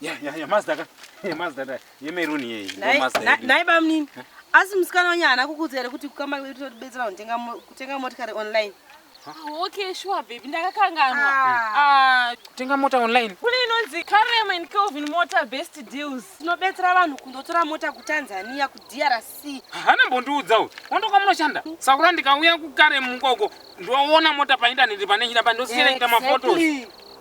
Yeah, yeah, yeah, Mazda ka. Yeah, Mazda da. Ye maroon ye. Nai- Mazda. na- yedu. nai bamnini asi musikana wenyu haana kukuudza here kuti kukamba kwedu totibetsera kutenga mo- kutenga motikari online Ah, okay sure baby ndakakanganwa Ah. Ah, Kutenga mota online. kune inonzi karem and kelvin motor best deals tinobetsera vanhu kundotora mota kutanzania kudrc Hana mbondiudza uyu. Ondoka munoshanda. Sakura ndikauya kukare mukoko. Ndoona mota pa internet pane nyira pa ndosiyana kuita mafotos. Exactly.